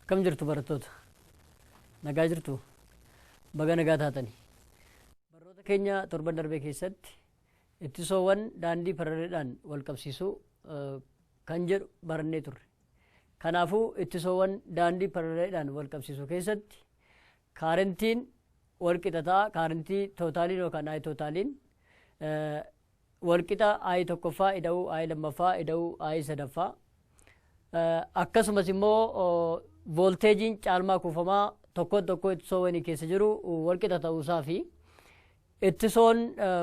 Akkam jirtu barattoota? Nagaa jirtu? Baga nagaa taatani. Barnoota keenya torban darbee keessatti ittisoowwan daandii paraleedhaan wal qabsiisuu kan jedhu barannee turre. Kanaafuu ittisoowwan daandii paralaleedhaan walqabsiisu keessatti kaarentiin walqixa ta'a kaarentii tootaaliin yookaan ayi tootaaliin walqixa ayi tokkoffaa ida'uu ayi lammaffaa ida'uu ayi sadaffaa akkasumas immoo voolteejiin caalmaa kuufamaa tokkoon tokkoo ittisoowwanii keessa jiru walqixa ta'uusaa fi Ittisoon,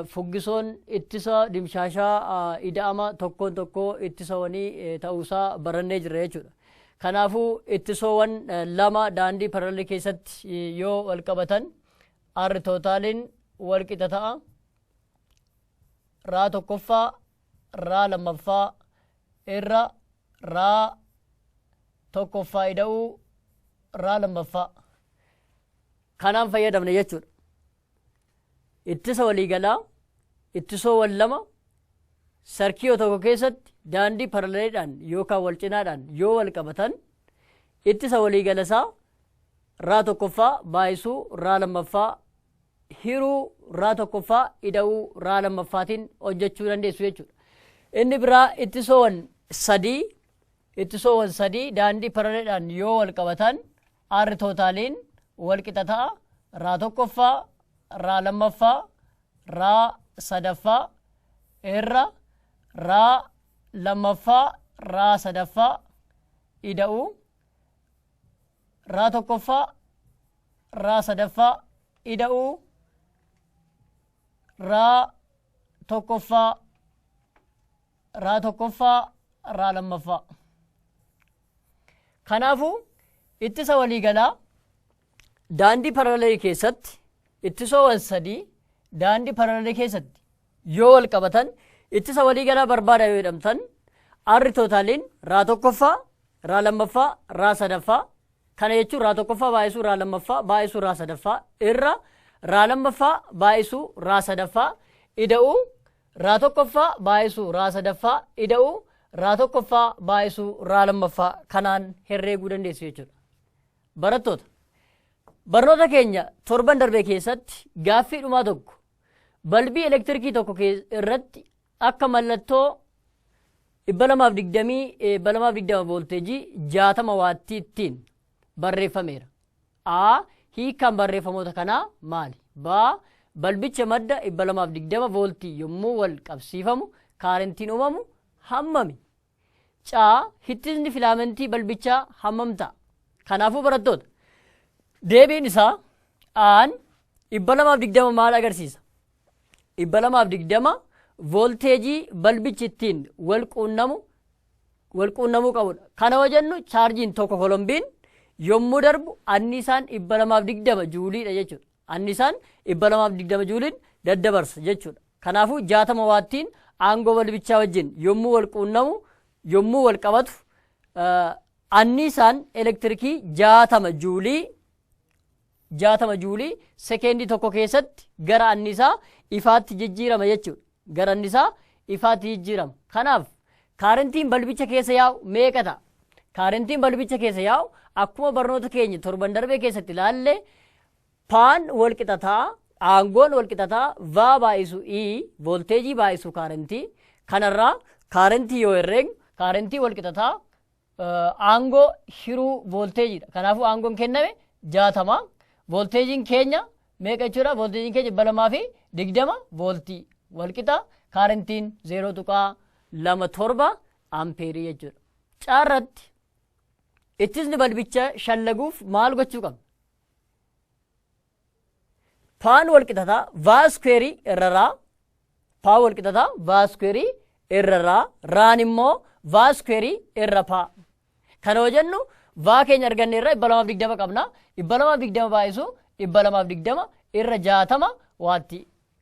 fuggisoon, ittisa dimshaashaa ida'ama tokkoon tokkoo ittisawanii ta'uusaa barannee jirra jechuudha. Kanaafuu ittisoowan lama daandii parallel keessatti yoo wal qabatan R tootaaliin wal qixa ta'a. Raa tokkoffaa, raa lammaffaa irra raa tokkoffaa ida'uu raa lammaffaa. Kanaan fayyadamne jechuudha. Ittisa waliigalaa, ittisoowwan lama sarkiyoo tokko keessatti daandii paralaleedhaan yookaan walcinaadhaan yoo walqabatan ittisa waliigala isaa raa tokkoffaa baay'isuu raa lammaffaa hiruu raa tokkoffaa ida'uu raa lammaffaatiin hojjechuu dandeessu jechuudha. Inni biraa ittisoowwan sadii ittisoowwan sadii daandii paralaleedhaan yoo walqabatan R tootaaliin wal qixa ta'a raa tokkoffaa raa lammaffaa raa sadaffaa irra raa lammaffaa raa sadaffaa ida'uu raa tokkoffaa raa sadaffaa ida'uu raa tokkoffaa raa tokkoffaa raa lammaffaa Kanaafuu ittisa waliigalaa daandii paralelii keessatti ittisoowwan sadii daandii paralelii keessatti yoo wal qabatan ittisa waliigalaa barbaada yoo jedhamtan arri tootaaliin raa tokkoffaa raa lammaffaa raa sadaffaa kana jechuun raa tokkoffaa baay'isuu raa lammaffaa baay'isuu raa sadaffaa irra raa lammaffaa baay'isuu raa sadaffaa ida'uu raa tokkoffaa baay'isuu raa sadaffaa ida'uu raa tokkoffaa baay'isuu raa lammaffaa kanaan herreeguu dandeessu jechuudha. Barattoota barnoota keenya torban darbee keessatti gaaffii dhumaa tokko balbii elektirikii tokko irratti akka mallattoo 220 voolteejii 60 waattiittiin barreeffameera. a. Hiikkaan barreeffamoota kanaa maali? B. Balbicha madda 220 vooltii yommuu wal qabsiifamu kaarentiin uumamu hammami? C. Hittisni filaamentii balbichaa hammam ta'a? Kanaafuu barattoota deebiin isaa aan 220 maal agarsiisa? 220 voolteejii balbichi ittiin wal quunnamu wal quunnamuu qabudha. Kana yoo jennu chaarjiin tokko kolombiin yommuu darbu annisaan 220 juuliidha jechuudha. Annisaan 220 juuliin daddabarsa jechuudha. Kanaafuu 60 waattiin aangoo balbichaa wajjin yommuu wal quunnamu yommuu wal qabatu annisaan elektirikii 60 juulii 60 juulii sekeendii tokko keessatti gara annisaa ifaatti jijjiirama jechuudha. Gara annisaa ifaatti jijjiirama. Kanaaf kaarentiin balbicha keessa yaa'u meeqa ta'a? Kaarentiin balbicha keessa yaa'u akkuma barnoota keenya torban darbee keessatti ilaalle paan wal qixa ta'a, aangoon wal qixa ta'a, vaa baay'isu i, voolteejii baay'isu kaarentii. Kanarraa kaarentii yoo herreegnu kaarentii wal qixa ta'a, aangoo hiruu voolteejiidha. Kanaafuu aangoon kenname jaatama. Voolteejiin keenya meeqa jechuudha? Voolteejiin keenya dhibba lamaa fi digdama vooltii walqixa kaarentiin zeeroo tuqaa lama torba ampeerii jechuudha. Caarratti ittisni balbicha shallaguuf maal gochuu qabna? paan walqixata vaa iskuweerii irra raa paa walqixata vaa iskuweerii irra raa raan immoo vaa iskuweerii irra paa kana yoo jennu vaa keenya arganne irra dhibba lamaaf digdama qabna dhibba lamaaf digdama baay'isu dhibba lamaaf digdama irra jaatama waatti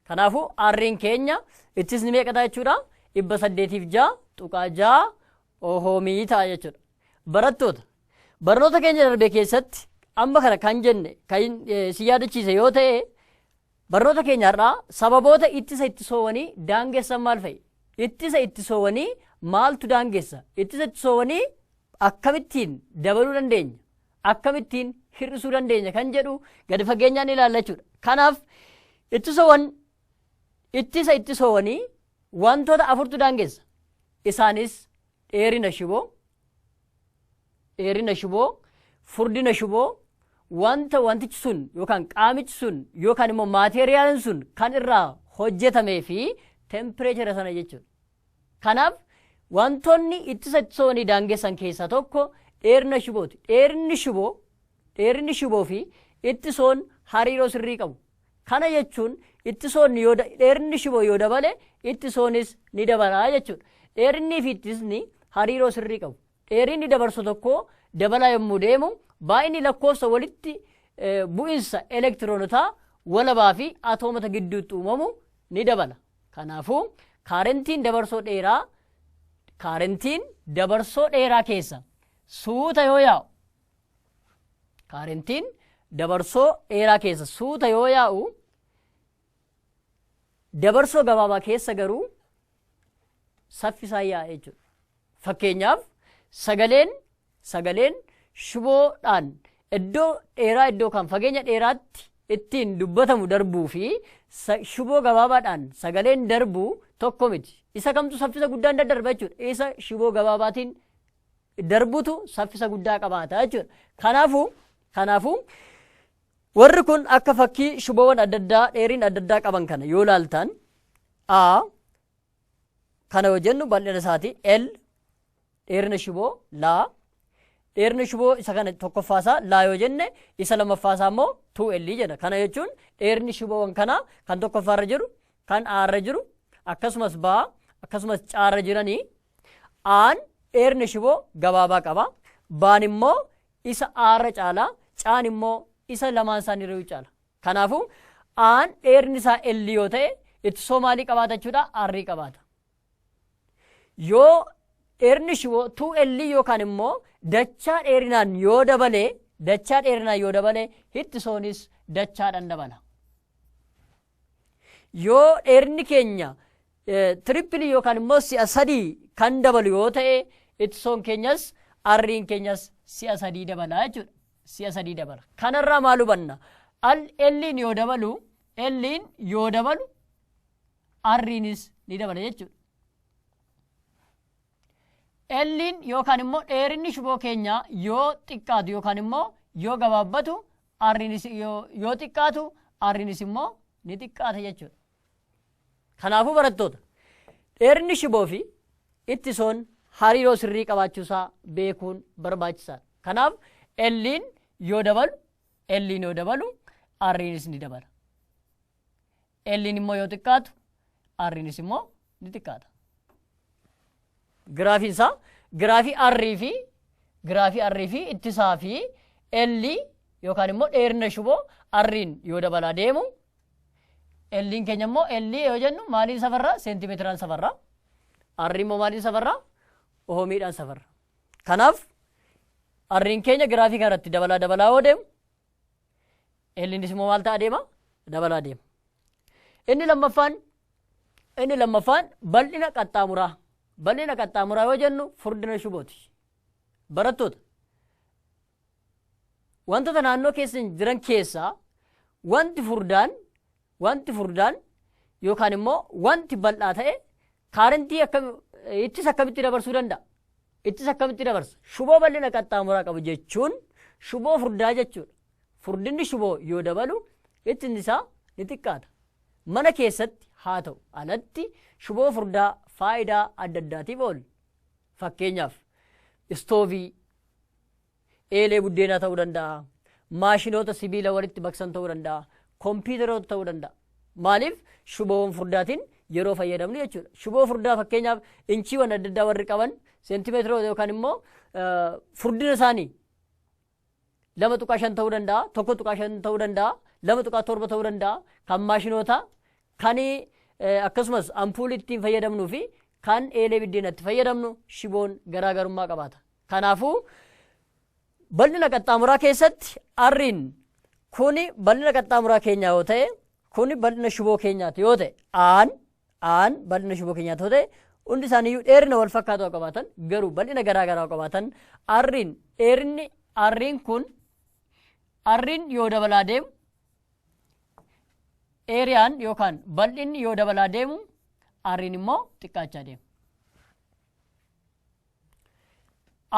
kanaafuu arriin keenya ittisni meeqataa jechuudha dhibba saddeetiif jaa tuqaa jaa Ohoomii ta'a jechuudha. Barattoota barnoota keenya darbe keessatti amma kana kan jenne kan si yaadachiise yoo ta'e barnoota keenya har'aa sababoota ittisa ittisoowwanii daangessan maal fa'i? Ittisa ittisoowwanii maaltu daangessa? Ittisa ittisoowwanii akkamittiin dabaluu dandeenya? Akkamittiin hir'isuu dandeenya kan jedhu gadi fageenyaan ilaalla jechuudha. Kanaaf ittisoowwan ittisa ittisoowwanii Wantoota afurtu daangessa. Isaanis dheerina shiboo, dheerina shiboo, furdina shiboo, wanta wantichi sun yookaan qaamichi sun yookaan immoo maateeriyaalin sun kan irraa hojjetamee fi tempireechara sana jechuudha. Kanaaf wantoonni ittisa ittisoonii daangessan keessaa tokko dheerina shibooti. Dheerinni shiboo, dheerinni shiboo fi ittisoon hariiroo sirrii qabu. Kana jechuun ittisoonni yoo dheerinni shiboo yoo dabale ittisoonis ni dabalaa jechuudha. Dheerinnii fi ittisni hariiroo sirrii qabu. Dheerinni dabarsu tokkoo dabalaa yommuu deemu baay'inni lakkoofsa walitti bu'insa elektiroonotaa walabaa fi atoomota gidduutti uumamu ni dabala. Kanaafuu kaarentiin dabarsoo dheeraa kaarentiin dabarsoo dheeraa keessa suuta yoo yaa'u kaarentiin dabarsoo dheeraa keessa suuta yoo yaa'u dabarsoo gabaabaa keessa garuu saffisaan yaa'a jechuudha. Fakkeenyaaf sagaleen sagaleen shiboodhaan iddoo dheeraa iddoo kan fageenya dheeraatti ittiin dubbatamu darbuu fi sa- shiboo gabaabaadhaan sagaleen darbu tokko miti. Isa kamtu saffisa guddaan daddarba jechuudha. Isa shiboo gabaabaatiin darbutu saffisa guddaa qabaata jechuudha. Kanaafuu kanaafuu warri kun akka fakkii shuboowwan adda addaa dheeriin adda addaa qaban kana yoo laaltan a kana yoo jennu bal'ina isaati l dheerina shuboo laa dheerina shuboo isa kana tokkoffaa isaa laa yoo jenne isa lammaffaa isaa immoo tuu l jenna kana jechuun dheerni shuboowwan kanaa kan tokkoffaa irra jiru kan a irra jiru akkasumas baa akkasumas caarra jiranii A'aan dheerna shiboo gabaabaa qaba. Baan immoo isa A'arra caala. Caan immoo isa lamaan isaaniirrayyuu caala. Kanaafuu A'aan dheerni isaa L yoo ta'e ittisoo maalii qabaata jechuudha? R qabaata. Yoo dheerni shiboo 2L yookaan immoo dachaa dheerinaan yoo dabale dachaa dheerinaan yoo dabale ittisoonis dachaadhaan dabala. Yoo dheerinni keenya tirippilii yookaan immoo si'a sadii kan dabalu yoo ta'e ittisoon keenyas arriin keenyas si'a sadii dabala jechuudha. Si'a sadii dabala. Kanarraa maal hubanna? Al elliin yoo dabalu elliin yoo dabalu arriinis ni dabala jechuudha. Elliin yookaan immoo dheerinni shuboo keenyaa yoo xiqqaatu yookaan immoo yoo gabaabbatu R'nis yoo, yoo xiqqaatu R'nis immoo ni xiqqaata jechuudha. Kanaafuu barattoota dheerinni shiboo fi ittisoon hariiroo sirrii qabaachuusaa beekuun barbaachisaadha. Kanaaf L'in yoo dabalu L'in yoo dabalu R'nis ni dabala. L'n immoo yoo xiqqaatu R'nis immoo ni xiqqaata. Giraafiin isaa giraafii R fi giraafii R fi ittisaa fi L yookaan immoo dheerina shuboo R'n yoo dabalaa deemu L'n keenya immoo L yoo jennu maaliin safarraa seentimeetiraan safarraa R immoo maaliin safarraa oomiidhaan safarra. Kanaaf R'n keenya giraafii kanarratti dabalaa dabalaa yoo deemu Elliinis immoo maal ta'a deema? Dabalaa deema. Inni lammaffaan inni lammaffaan bal'ina qaxxaamuraa. Bal'ina qaxxaamuraa yoo jennu furdina shubooti. Barattoota. Wantoota naannoo keessa jiran keessaa wanti furdaan Wanti furdaan yookaan immoo wanti bal'aa ta'e kaarentii akkam ittis akkamitti dabarsuu danda'a? Ittis akkamitti dabarsa? Shuboo bal'ina qaxxaamuraa qabu jechuun shuboo furdaa jechuudha. Furdinni shuboo yoo dabalu ittisni isaa ni xiqqaata. Mana keessatti haa ta'u alatti shuboo furdaa faayidaa adda addaatiif oola. Fakkeenyaaf istoovii, eelee buddeenaa ta'uu danda'a, maashinoota sibiila walitti maksan ta'uu danda'a, kompiitaroota ta'uu danda'a. Maaliif shuboowwan furdaatiin yeroo fayyadamnu jechuudha. Shuboo furdaa fakkeenyaaf inchiiwwan adda addaa warri qaban seentimeetiroota yookaan immoo furdina isaanii lama tuqaa shan ta'uu danda'a, tokko tuqaa shan ta'uu danda'a, lama tuqaa torba ta'uu danda'a, kan maashinootaa, kan akkasumas ampuulii ittiin fayyadamnuu fi kan eelee biddeenatti fayyadamnu shiboon garaagarummaa qabaata. Kanaafuu, bal'ina qaxxaamuraa keessatti R'n kun bal'ina qaxxaamuraa keenyaa yoo ta'e, kun bal'ina shiboo keenyaati yoo ta'e, A'n A'n bal'ina shiboo keenyaati yoo ta'e, hundi isaaniiyyuu dheerina wal fakkaatu haa qabaatan, garuu bal'ina garaa garaa haa qabaatan, R'n dheerinni R'n kun R'n yoo dabalaa deemu, eeriyaan yookaan bal'inni yoo dabalaa deemu, R'n immoo xiqqaachaa deema.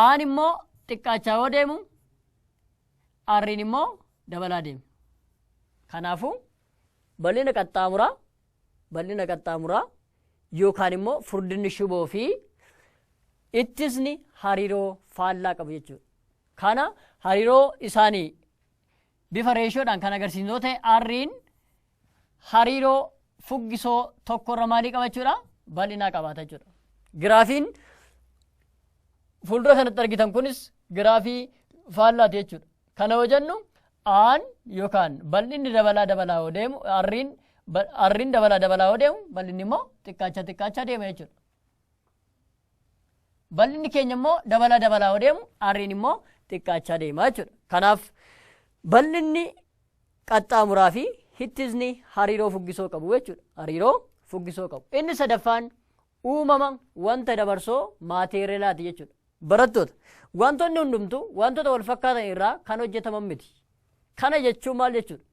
Aan immoo xiqqaachaa yoo deemu R'n immoo dabalaa deema. Kanaafuu bal'ina qaxxaamuraa bal'ina qaxxaamuraa yookaan immoo furdinni shuboo fi ittisni hariiroo faallaa qabu jechuudha. Kana hariiroo isaanii Bifa reeshoodhaan kan agarsiisnu yoo ta'e R'n hariiroo fuggisoo tokkorra maalii qabachuudha? Bal'inaa qabaata jechuudha. Giraafiin fuuldura kanatti argitan kunis giraafii faallaati jechuudha. Kana yoo jennu aan yookaan bal'inni dabalaa dabalaa yoo deemu R'n R'n dabalaa dabalaa yoo deemu bal'inni immoo xiqqaachaa xiqqaachaa deema jechuudha. Bal'inni keenya immoo dabalaa dabalaa yoo deemu arriin immoo xiqqaachaa deema jechuudha. Kanaaf bal'inni qaxxaamuraa fi hittisni hariiroo fuggisoo qabu jechuudha. Hariiroo fuggisoo qabu. Inni sadaffaan uumama wanta dabarsoo maateerelaati jechuudha. Barattoota wantoonni hundumtuu wantoota wal fakkaatan irraa kan hojjetaman miti. Kana jechuun maal jechuudha?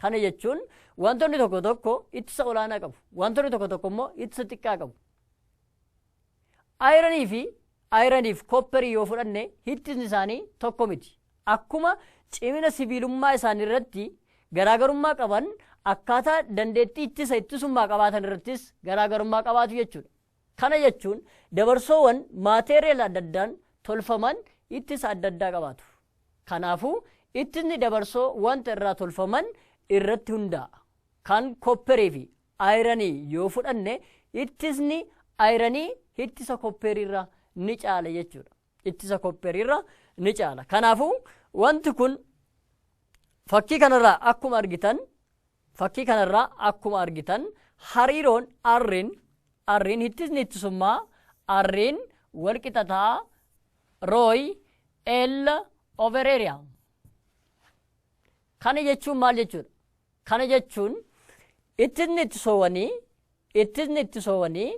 Kana jechuun wantoonni tokko tokko ittisa olaanaa qabu. Wantoonni tokko tokko immoo ittisa xiqqaa qabu. Ayiranii fi ayiraniif kopperii yoo fudhanne hittisni isaanii tokko miti. Akkuma cimina sibiilummaa isaanii irratti garaagarummaa qaban akkaataa dandeettii ittisa ittisummaa qabaatan irrattis garaagarummaa qabaatu jechuudha. Kana jechuun dabarsoowan maateeriyal adda addaan tolfaman ittisa adda addaa qabaatu. Kanaafuu ittisni dabarsoo wanta irraa tolfaman irratti hundaa'a. Kan kopperii fi ayiranii yoo fudhanne ittisni ayiranii ittisa koppeeriirra ni caala jechuudha. Ittisa koppeeriirra ni caala. Kanaafuu wanti kun fakkii kanarraa akkuma argitan fakkii kanarraa akkuma argitan hariiroon arriin arriin ittisni ittisummaa arriin walqixa ta'a rooyi L over area. Kana jechuun maal jechuudha? Kana jechuun ittisni itti soowanii ittisni itti soowanii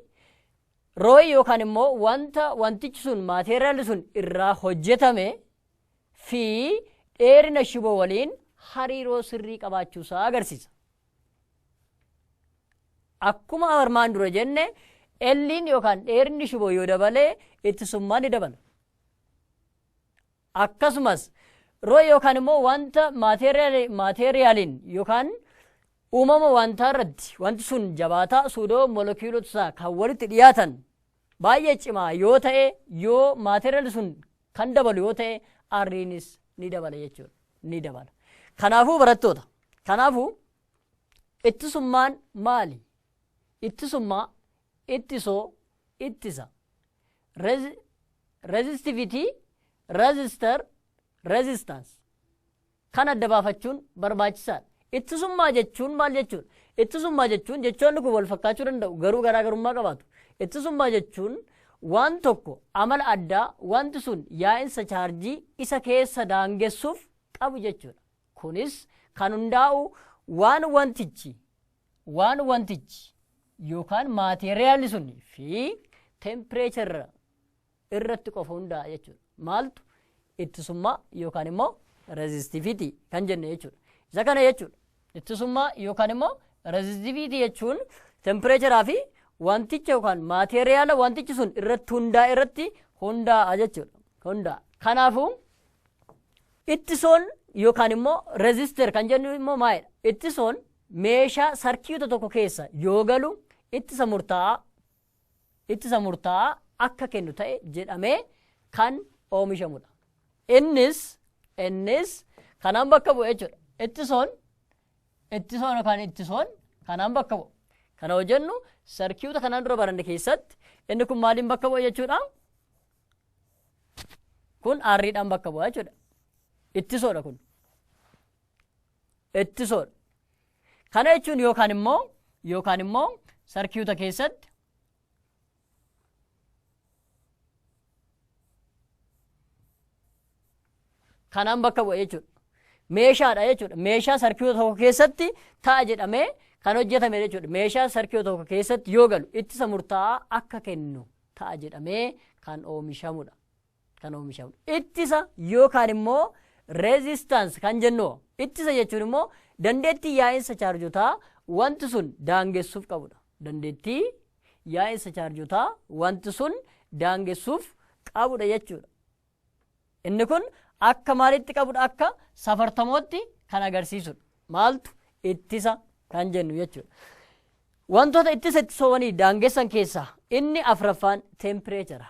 rooyi yookaan immoo wanta wantichi sun maateeriyaalli sun irraa hojjetame fi dheerina shiboo waliin hariiroo sirrii qabaachuu isaa agarsiisa. Akkuma armaan dura jenne elliin yookaan dheerinni shiboo yoo dabalee ittisummaan ni dabala. akkasumas roo yookaan immoo wanta maateeriyaaliin yookaan uumama wantaa irratti wanti sun jabaataa suudoo molekiyuulota isaa kan walitti dhiyaatan baay'ee cimaa yoo ta'e yoo maateeriyaali sun kan dabalu yoo ta'e arriinis ni dabala jechuudha ni dabala kanaafuu barattoota kanaafuu ittisummaan maali Ittisummaa, ittisoo, ittisa. Resi, resistivity, resistor, resistance. Kan adda baafachuun barbaachisaadha. Ittisummaa jechuun maal jechuudha? Ittisummaa jechuun jechoonni kun wal fakkaachuu danda'u garuu garaagarummaa qabaatu. Ittisummaa jechuun waan tokko amala addaa wanti sun yaa'insa chaarjii isa keessa daangessuuf qabu jechuudha. Kunis kan hundaa'u waan wantichi waan wantichi yookaan maateeriyaalli sun fi tempireecharra irratti qofa hundaa'a jechuudha. Maaltu ittisummaa yookaan immoo rezistiviitii kan jenne jechuudha. Isa kana jechuudha. Ittisummaa yookaan immoo rezistiviitii jechuun tempireecharaa fi wanticha yookaan maateeriyaala wantichi sun irratti hundaa'e irratti hundaa'a jechuudha. Hundaa'a. Kanaafuu ittisoon yookaan immoo rezister kan jennu immoo maalidha? Ittisoon meeshaa sarkiyuuta tokko keessa yoo galu ittisa murtaa'aa ittisa murtaa'aa akka kennu ta'e jedhamee kan oomishamudha. Innis innis kanaan bakka bu'e jechuudha. Ittisoon ittisoon yookaan ittisoon kanaan bakka bu'u. Kana hojjennu sarkiyuuta kanaan dura baranne keessatti inni kun maaliin bakka bu'a jechuudha? Kun aarriidhaan bakka bu'a jechuudha. Ittisoodha kun. ittisoodha. Kana jechuun yookaan immoo yookaan immoo sarkiyuuta keessatti kanaan bakka bu'a jechuudha. Meeshaadha jechuudha. Meeshaa sarkiyuuta tokko keessatti ta'a jedhamee kan hojjetame jechuudha. Meeshaa sarkiyuuta tokko keessatti yoo galu ittisa murtaa'aa akka kennu ta'a jedhamee kan oomishamudha. kan oomishamu ittisa yookaan immoo resistance kan jennu ittisa jechuun immoo dandeettii yaa'insa chaarjotaa wanti sun daangessuuf qabudha. Dandeettii yaa'insa chaarjotaa wanti sun daangessuuf qabudha jechuudha. Inni kun akka maalitti qabudha akka safartamootti kan agarsiisudha. Maaltu ittisa kan jennu jechuudha. Wantoota ittisa ittisoowwanii daangessan keessaa inni afraffaan teempireechara.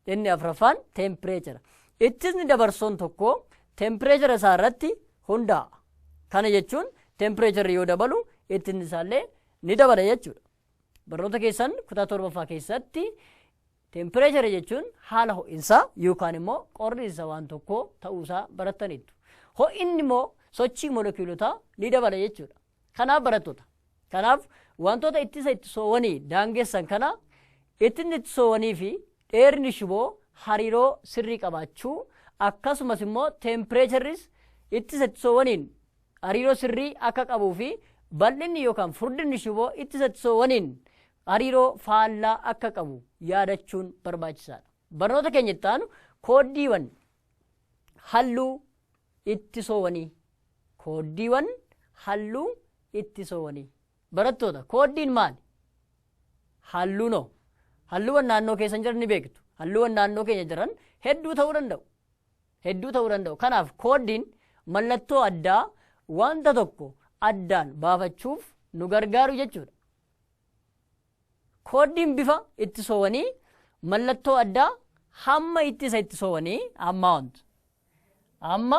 Inni afraffaan teempireechara. Ittisni dabarsoon tokko teempireechara isaa irratti hundaa'a. Kana jechuun teempireecharri yoo dabalu ittisni isaallee ni dabala jechuudha. Barnoota keessan kutaa torbaffaa keessatti teempireechara jechuun haala ho'insaa yookaan immoo qorriinsa waan tokkoo ta'uusaa barattaniittu. Ho'inni immoo sochii molekiyuulotaa ni dabala jechuudha. Kanaaf barattoota. Kanaaf wantoota ittisa ittisoowwanii daangessan kana ittisni ittisoowwanii fi dheerni shiboo hariiroo sirrii qabaachuu akkasumas immoo teempireecharris ittisa ittisoowwaniin hariiroo sirrii akka qabuu fi bal'inni yookaan furdinni shiboo ittisa ittisoowwaniin hariiroo faallaa akka qabu yaadachuun barbaachisaadha. Barnoota keenya itti aanu kooddiiwwan halluu ittisoowanii kooddiiwan halluu ittisoowanii barattoota kooddiin maali? Halluunoo halluuwwan naannoo keessan jiran ni beektu halluuwwan naannoo keenya jiran hedduu ta'uu danda'u hedduu ta'uu danda'u kanaaf kooddiin mallattoo addaa wanta tokko addaan baafachuuf nu gargaaru jechuudha. Kooddiin bifa ittisoowanii mallattoo addaa hamma ittisa ittisoowanii amount amma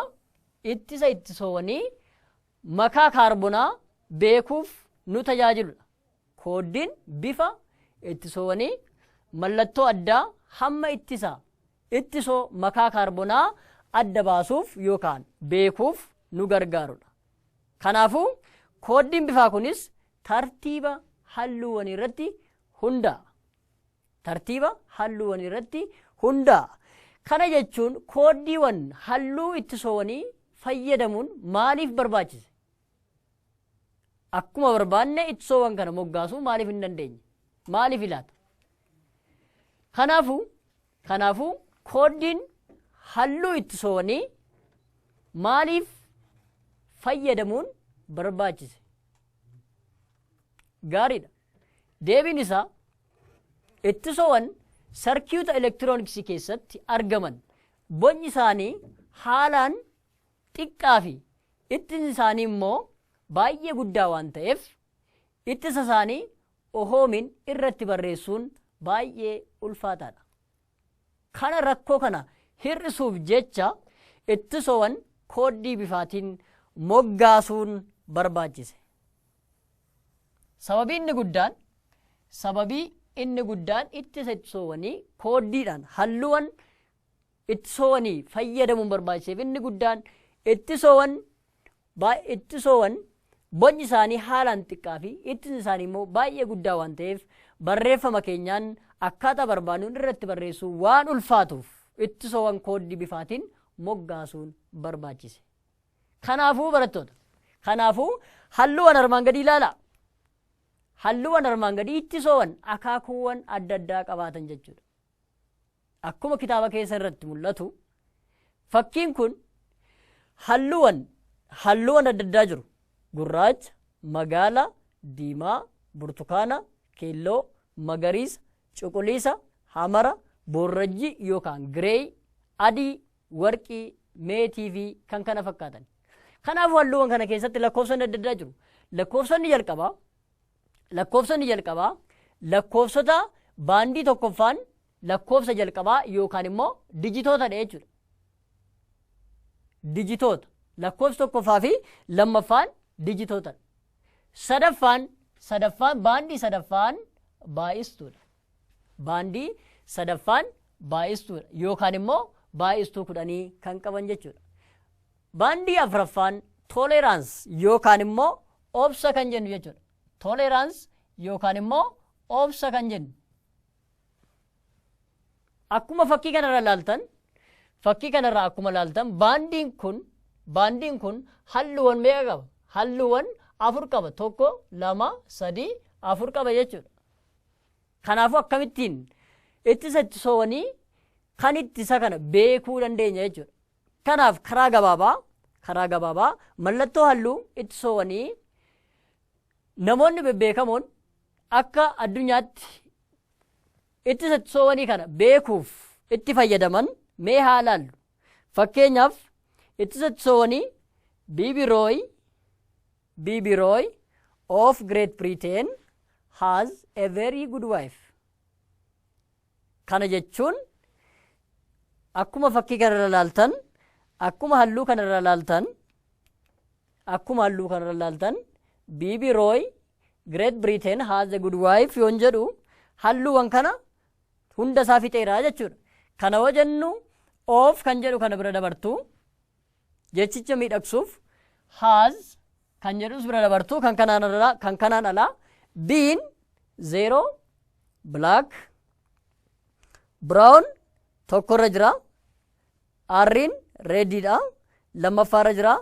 ittisa ittisoowanii makaa kaarbonaa beekuuf nu tajaajiludha. Kooddiin bifa ittisoowanii mallattoo addaa hamma ittisa ittisoo makaa kaarbonaa adda baasuuf yookaan beekuuf nu gargaarudha. Kanaafuu kooddiin bifaa kunis tartiiba halluuwwanii irratti hundaa'a. Tartiiba halluuwwanii irratti hundaa'a. Kana jechuun kooddiiwwan halluu ittisoowwanii fayyadamuun maaliif barbaachise? Akkuma barbaanne ittisoowwan kana moggaasuu maaliif hin dandeenye? Maaliif ilaata? Kanaafuu kanaafuu kooddiin halluu ittisoowwanii maaliif fayyadamuun barbaachise? Gaariidha. Deebiin isaa ittisoowwan sarkiyuuta elektirooniksii keessatti argaman bocni isaanii haalaan xiqqaa fi ittisni isaanii immoo baay'ee guddaa waan ta'eef ittisa isaanii ohoomiin irratti barreessuun baay'ee ulfaataadha. Kana rakkoo kana hir'isuuf jecha ittisowan kooddii bifaatiin moggaasuun barbaachise. Sababii inni guddaan Sababii inni guddaan ittisa ittisoowanii kooddiidhaan halluuwan ittisoowanii fayyadamuun barbaachiseef inni guddaan ittisowan Baay ittisowan bocni isaanii haalaan xiqqaa fi ittisni isaanii immoo baay'ee guddaa waan ta'eef barreeffama keenyaan akkaataa barbaadnuun irratti barreessuu waan ulfaatuuf ittisowan kooddii bifaatiin moggaasuun barbaachise. Kanaafuu barattoota, kanaafuu halluuwan armaan gadii ilaalaa. Halluuwan armaan gadii ittisowan akaakuuwan adda addaa qabaatan jechuudha. Akkuma kitaaba keessa irratti mul'atu fakkiin kun halluuwan halluuwan adda addaa jiru. Gurraacha, magaala, diimaa, burtukaana, keelloo, magariisa, cuquliisa, hamara, boorrajjii yookaan gireey, adii, warqii, meetii fi kan kana fakkaatan. Kanaafuu halluuwan kana keessatti lakkoofsonni adda addaa jiru. Lakkoofsonni jalqabaa Lakkoofsonni jalqabaa lakkoofsota baandii tokkoffaan lakkoofsa jalqabaa yookaan immoo dijitootadha jechuudha. Dijitoota lakkoofsi tokkoffaa fi lammaffaan dijitootadha. Sadaffaan sadaffaan baandii sadaffaan baay'istuudha. Baandii sadaffaan baay'istuudha yookaan immoo baay'istuu kudhanii kan qaban jechuudha. Baandii afraffaan tolerance yookaan immoo obsa kan jennu jechuudha. Tolerance yookaan immoo obsa kan jennu. Akkuma fakkii kanarra ilaaltan fakkii kanarra akkuma ilaaltan baandiin kun baandiin kun halluuwwan meeqa qaba? Halluuwwan afur qaba. Tokko, lama, sadii, afur qaba jechuudha. Kanaafuu akkamittiin ittisa ittisoowwanii kan ittisa kana beekuu dandeenya jechuudha. Kanaaf karaa gabaabaa karaa gabaabaa mallattoo halluu ittisoowanii namoonni bebbeekamoon akka addunyaatti ittisa ittisoowanii kana beekuuf itti fayyadaman mee haa ilaallu. Fakkeenyaaf ittisa ittisoowanii Biibirooyi Biibirooyi of Great Britain has a very good wife. Kana jechuun akkuma fakkii kana irra ilaaltan akkuma halluu kana irra ilaaltan akkuma halluu kana irra ilaaltan biibi rooy Great Britain has a good wife yoon jedhu halluuwwan kana hunda isaa fixeera jechuudha. Kana yoo jennu of kan jedhu kana bira dabartu Jechicha miidhagsuuf has kan jedhus bira dabartu kan kanaan ala kan kanaan ala been zero black brown tokkorra jira arriin reediidha lammaffaarra jira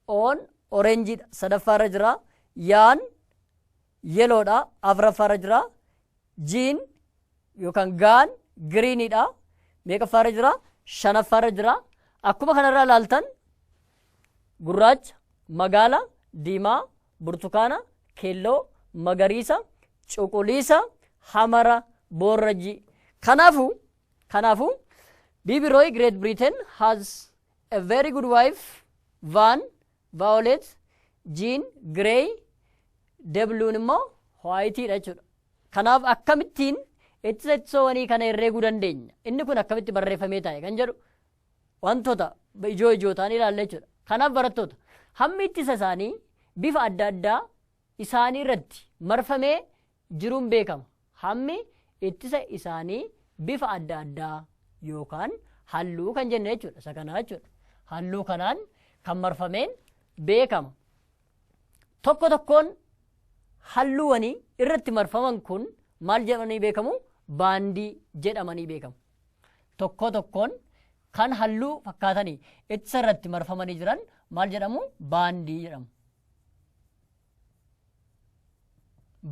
on oreenjiidha sadaffaarra jira yaan yellow dha afraffaarra jira jiin yookaan gaan green dha meeqaffaarra jira shanaffaarra jira akkuma kanarraa ilaaltan gurraacha magaala diimaa burtukaana keelloo magariisa cuquliisa hamara boorrajii kanaafu kanaafu bibi roy great britain has a very good wife van Violet, Jean, Grey, Debluun immoo White dha jechuudha. Kanaaf akkamittiin ittisa ittisoowwanii kana herreeguu dandeenya? Inni kun akkamitti barreeffamee taa'e kan jedhu wantoota ijoo ijoo ta'an ilaalla jechuudha. Kanaaf barattoota hammi ittisa isaanii bifa adda addaa isaanii irratti marfamee jiruun beekama. Hammi ittisa isaanii bifa adda addaa yookaan halluu kan jenne jechuudha. Isa kanaa jechuudha. Halluu kanaan kan marfameen beekama. Tokko tokkoon halluuwanii irratti marfaman kun maal jedhamanii beekamu? Baandii jedhamanii beekamu. Tokko tokkoon kan halluu fakkaatanii ittisa irratti marfamanii jiran maal jedhamu? Baandii jedhamu.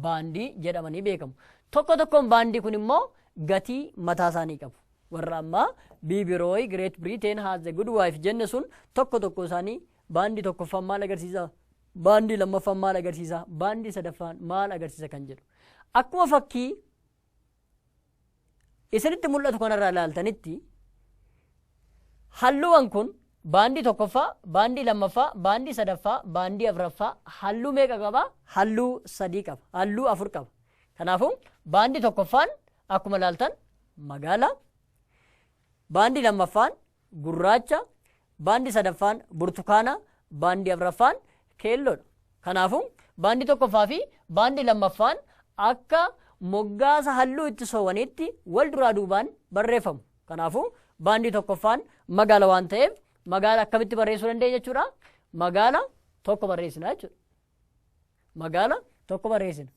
baandii jedhamanii beekamu. Tokko tokkoon baandii kun immoo gatii mataa isaanii qabu. Warra ammaa Biibirooyi, Great Britain, Has the Good Wife jenne sun tokko tokko isaanii baandii tokkoffaan maal agarsiisa? Baandii lammaffaan maal agarsiisa? Baandii sadaffaan maal agarsiisa kan jedhu. Akkuma fakkii isinitti mul'atu kanarraa ilaaltanitti halluuwwan kun baandii tokkoffaa, baandii lammaffaa, baandii sadaffaa, baandii afraffaa halluu meeqa qaba? Halluu sadii qaba. Halluu afur qaba. Kanaafuu baandii tokkoffaan akkuma ilaaltan magaala, baandii lammaffaan gurraacha, baandi sadaffaan burtukaana, baandi afraffaan keelloodha. Kanaafuu, baandi tokkoffaa fi baandi lammaffaan akka moggaasa halluu itti soowaniitti wal duraa duubaan barreeffamu. Kanaafuu, baandi tokkoffaan magaala waan ta'eef magaala akkamitti barreessuu dandeenya jechuudha? Magaala tokko barreessina jechuudha. Magaala tokko barreessina.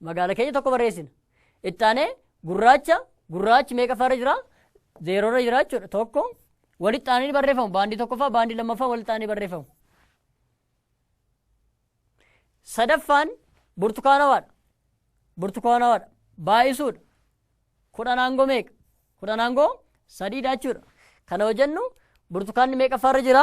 magaala keenya tokko barreessina. Itti aanee gurraacha gurraachi meeqa farra jira? Zeerorra jira jechuudha. Tokko walitti aananii barreeffamu. Baandii tokkoffaa baandii lammaffaa walitti aananii barreeffamu. Sadaffaan burtukaanawaadha. Burtukaanawaadha. Baay'isuudha. Kudhan aangoo meeqa? Kudhan aangoo sadiidha jechuudha. Kana hojjennu burtukaanni meeqa farra jira?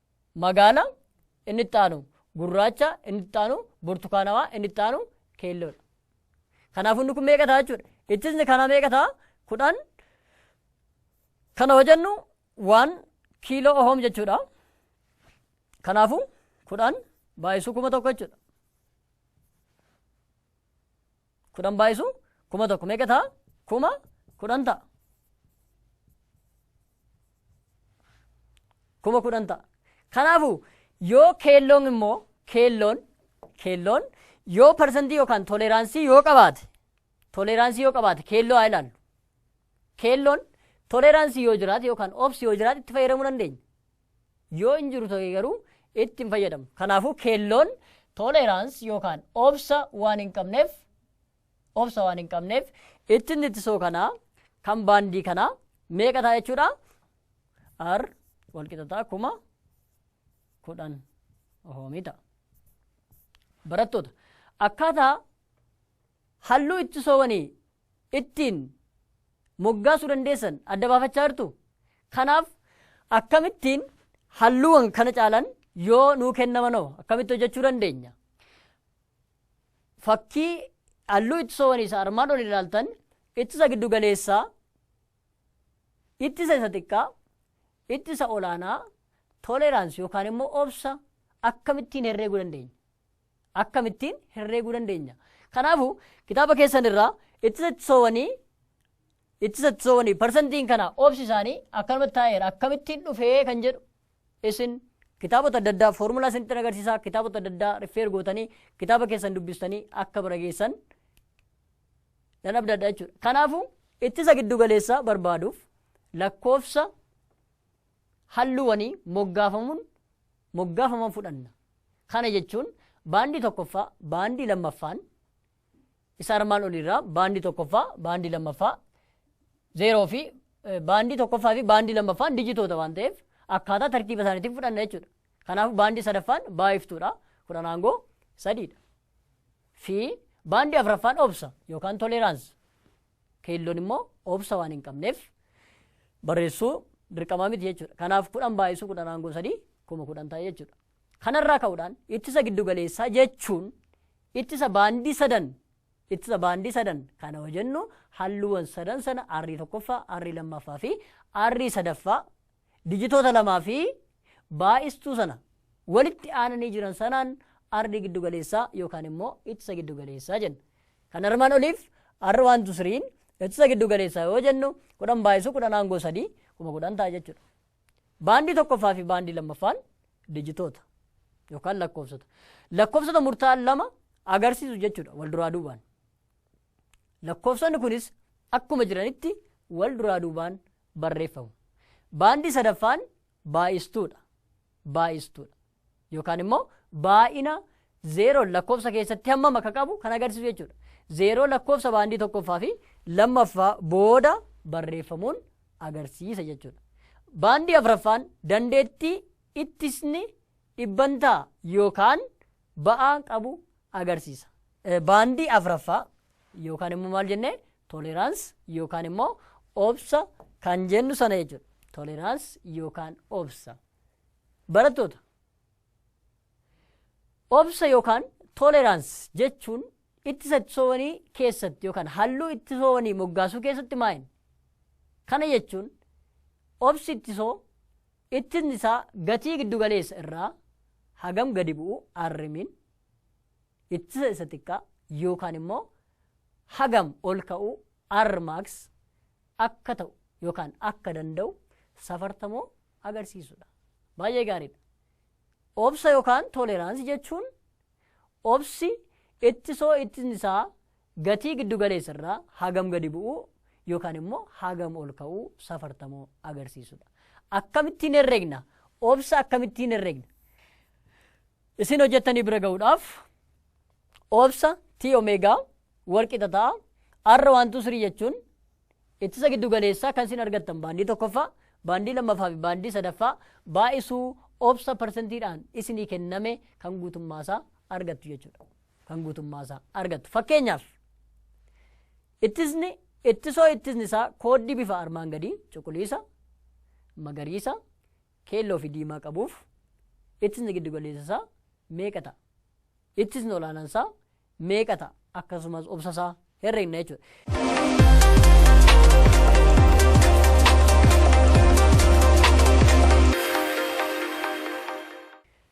magaala, inni itti aanu gurraacha, inni itti aanu burtukaanawaa, inni itti aanu keelloodha. Kanaafuu inni kun meeqa ta'a jechuudha. Ittisni kanaa meeqa ta'a? Kudhan. Kana hojennu waan kiiloo ohoom jechuudha. Kanaafuu kudhan baay'isuu kuma tokko jechuudha. kudhan baayisu kuma tokko meeqa ta'a kuma kudhan ta'a kuma kudhan ta'a kanaafu yoo keelloon immoo keelloon keelloon yoo parsantii yookaan toleeraansii yoo qabaate toleeraansii yoo qabaate keelloo haa ilaallu keelloon toleeraansii yoo jiraate yookaan obsi yoo jiraate itti fayyadamuu dandeenya yoo hin jiru ta'e garuu itti hin fayyadamnu. Kanaafuu keelloon tolerance yookaan obsa waan hin qabneef obsa waan hin qabneef ittiin ittisoo kanaa kan baandii kanaa meeqa ta'a jechuudha? R walqixa ta'a kuma kudhan ohoomii ta'a. Barattoota akkaataa halluu ittisoowwanii ittiin moggaasuu dandeessan adda baafachaa jirtu. Kanaaf akkamittiin halluuwwan kana caalan yoo nuu kennamanoo akkamitti hojjechuu dandeenya? Fakkii halluu ittisoowwanii isa armaan olii ilaaltan ittisa giddu galeessaa, ittisa isa xiqqaa, ittisa olaanaa, toleeraansi yookaan immoo obsa akkamittiin herreeguu dandeenya? akkamittiin herreeguu dandeenya? Kanaafu kitaaba keessan irraa ittisa ittisoowanii ittisa ittisoowanii parsantiin kana oobsi isaanii akkanumatti taa'eera akkamittiin dhufee kan jedhu isin kitaabota adda addaa foormulaa isinitti agarsiisaa kitaabota adda addaa rifeer gootanii kitaaba keessan dubbistanii akka bira geessan nan abdadha jechuudha. Kanaafu ittisa giddu galeessaa barbaaduuf lakkoofsa halluuwwanii moggaafamuun moggaafaman fudhanna. Kana jechuun baandii tokkoffaa, baandii lammaffaan isa armaan oliirraa baandii tokkoffaa, baandii lammaffaa zeeroo fi eh, baandii tokkoffaa fi baandii lammaffaan dijitoota waan ta'eef akkaataa tartiiba isaaniitiin fudhanna jechuudha. Kanaaf baandii sadaffaan baay'iftuudha. Kudhan aangoo sadiidha. Fi baandii afraffaan obsa yookaan toleeraansi. Keelloon immoo obsa waan hin qabneef barreessuu dirqamaa miti jechuudha. Kanaaf kudhan baay'isuu kudhan aangoo sadii kuma kudhan ta'e jechuudha. Kanarraa ka'uudhaan ittisa giddugaleessaa jechuun ittisa baandii sadan ittisa baandii sadan kana hojennu halluuwwan sadan sana arrii tokkoffaa, arrii lammaffaa fi arrii sadaffaa Dijitoota lamaa fi baay'istuu sana walitti aananii jiran sanaan ardii giddu galeessaa yookaan immoo ittisa giddu galeessaa jenna. Kan armaan oliif R1 to 3n ittisa giddu galeessaa yoo jennu 10 baay'isuu 10 aangoo 3 kuma 10 ta'a jechuudha. Baandii tokkoffaa fi baandii lammaffaan dijitoota yookaan lakkoofsota. Lakkoofsota murtaa'an lama agarsiisu jechuudha wal duraa duubaan. Lakkoofsonni kunis akkuma jiranitti wal duraa duubaan barreeffamu. Baandii sadaffaan baay'istuudha. Baay'istuudha. Yookaan immoo baay'ina zeeroon lakkoofsa keessatti hammam akka qabu kan agarsiisu jechuudha. Zeeroo lakkoofsa baandii tokkoffaa fi lammaffaa booda barreeffamuun agarsiisa jechuudha. Baandii afraffaan dandeettii ittisni dhibbantaa yookaan ba'aa qabu agarsiisa. Baandii afraffaa yookaan immoo maal jennee tolerance yookaan immoo obsa kan jennu sana jechuudha. Tolerance yookaan obsa. Barattoota obsa yookaan tolerance jechuun ittisa ittisoowanii keessatti yookaan halluu ittisoowanii moggaasuu keessatti maa'in. Kana jechuun obsi ittisoo Ittin isaa gatii giddu galeessa irraa hagam gadi bu'u Rmin ittisa isa xiqqaa yookaan immoo hagam ol ka'u Rmax akka ta'u yookaan akka danda'u safartamoo agarsiisudha. Baay'ee gaariidha. Obsa yookaan toleeraansii jechuun obsi ittisoo ittin isaa Gatii giddu galeessa irraa hagam gadi bu'uu yookaan immoo hagam ol ka'uu safartamoo agarsiisudha. Akkamittiin herregna? Obsa akkamittiin herregna? Isin hojjettanii bira ga'uudhaaf obsa T omeegaa wal qixa ta'a. R waan tuu sirii jechuun ittisa giddu galeessaa kan isin argattan baandii tokkoffaa, baandii lammaffaa fi baandii sadaffaa baay'isuu obsa parsentiidhaan isinii kenname kan guutummaasaa argattu jechuudha. kan guutummaa isaa argattu. Fakkeenyaaf ittisni ittisoo ittisni isaa kooddii bifa armaan gadii cuquliisa, magariisa, keelloo fi diimaa qabuuf ittisni giddugaleessa isaa meeqa ta'a? Ittisni olaanaan isaa meeqa ta'a? Akkasumas obsa isaa herregna jechuudha.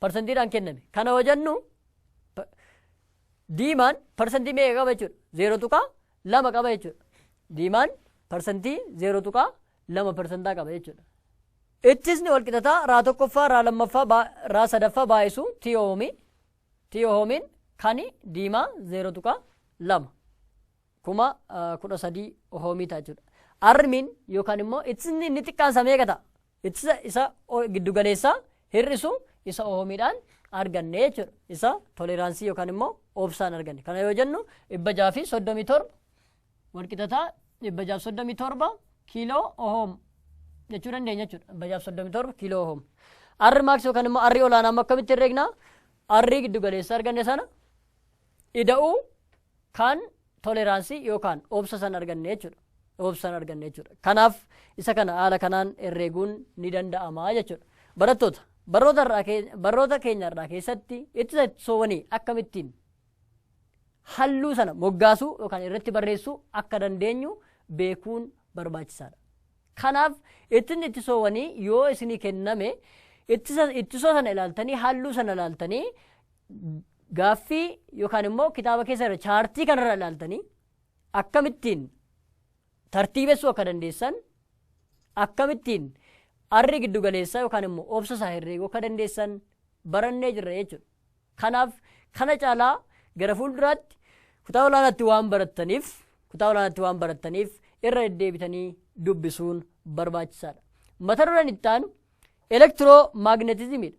parsantiidhaan kenname. Kana yoo jennu diimaan parsantii meeqa qaba jechuudha? Zeero tuqaa lama qaba jechuudha. Diimaan parsantii zeero tuqaa lama parsantaa qaba jechuudha. Ittisni walqixataa raa tokkoffaa raa lammaffaa baa- raa sadaffaa baay'isu tiyoomii tiyoomiin kani diimaa zeero tuqaa lama kuma ah, kudha sadii ohoomii ta'a jechuudha. Armiin yookaan immoo ittisni inni xiqqaan isaa meeqa ta'a? Ittisa isa giddugaleessaa hir'isu isa oomiidhaan arganne jechuudha. Isa toleraansii yookaan immoo obsaan arganne. Kana yoo jennu dhibba jaha fi soddomii torba walqixataa dhibba jaha fi soddomii torba kiiloo ohoom jechuu dandeenya jechuudha. Dhibba jaha fi soddomii torba kiiloo ohoom. Arri maaks yookaan immoo arri olaanaa amma akkamitti herreegna? Arri giddugaleessa arganne sana ida'uu kaan toleraansii yookaan obsa san arganne jechuudha. Obsan arganne jechuudha. Kanaaf isa kana haala kanaan herreeguun ni danda'ama jechuudha. Barattoota barnoota irraa kee- barnoota keenya irraa keessatti ittisa ittisoowwanii akkamittiin halluu sana moggaasuu yookaan irratti barreessuu akka dandeenyu beekuun barbaachisaadha. Kanaaf ittisni ittisoowwanii yoo isinii kenname ittisa ittisoo sana ilaaltanii halluu sana ilaaltanii Gaaffii yookaan immoo kitaaba keessa irra chaartii kanarra ilaaltanii akkamittiin tartiibessuu akka dandeessan akkamittiin arri giddu galeessaa yookaan immoo obsa isaa herreeguu akka dandeessan barannee jirra jechuudha. Kanaaf kana caalaa gara fuulduraatti kutaa olaanaatti waan barattaniif kutaa olaanaatti waan barattaniif irra deddeebitanii dubbisuun barbaachisaadha. Mata dureen itti aanu elektiroo maagneetizimiidha.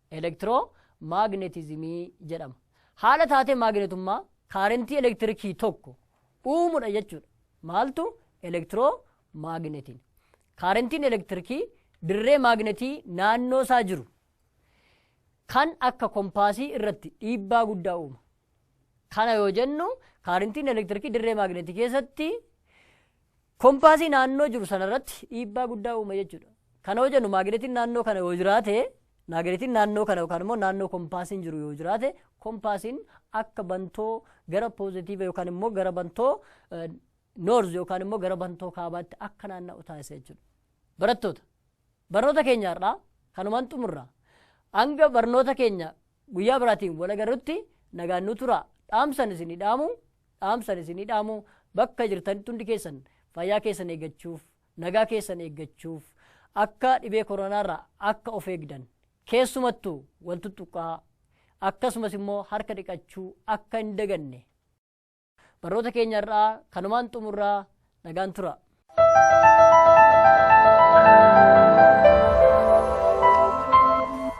elektiroo maagnetizimii jedhama. Haala taatee maagnetummaa kaarentii elektirikii tokko uumudha jechuudha. Maaltu elektiroo maagnetiin. Kaarentiin elektirikii dirree maagnetii naannoo isaa jiru kan akka kompaasii irratti dhiibbaa guddaa uuma. Kana yoo jennu kaarintiin elektirikii dirree maagneetii keessatti kompaasii naannoo jiru sanarratti dhiibbaa guddaa uuma jechuudha. Kana yoo jennu maagneetiin naannoo kana yoo jiraate maagneetiin naannoo kana yookaan immoo naannoo kompaasiin jiru yoo jiraate kompaasiin akka bantoo gara poozitiiva yookaan immoo gara bantoo noorz yookaan immoo gara bantoo kaabaatti akka naanna'u taasisa jechuudha. Barattoota Barnoota keenya har'aa kanumaan xumurra. Hanga barnoota keenya guyyaa biraatiin wal agarrutti nagaan nu turaa. Dhaamsan isinii dhaamu, dhaamsan isinii dhaamu bakka jirtanitti hundi keessan fayyaa keessan eeggachuuf, nagaa keessan eeggachuuf, akka dhibee koronaarraa akka of eegdan, keessumattuu wal tuttuqqaa, akkasumas immoo harka dhiqachuu akka hin daganne. Barnoota keenya irraa kanumaan xumurraa nagaan tura.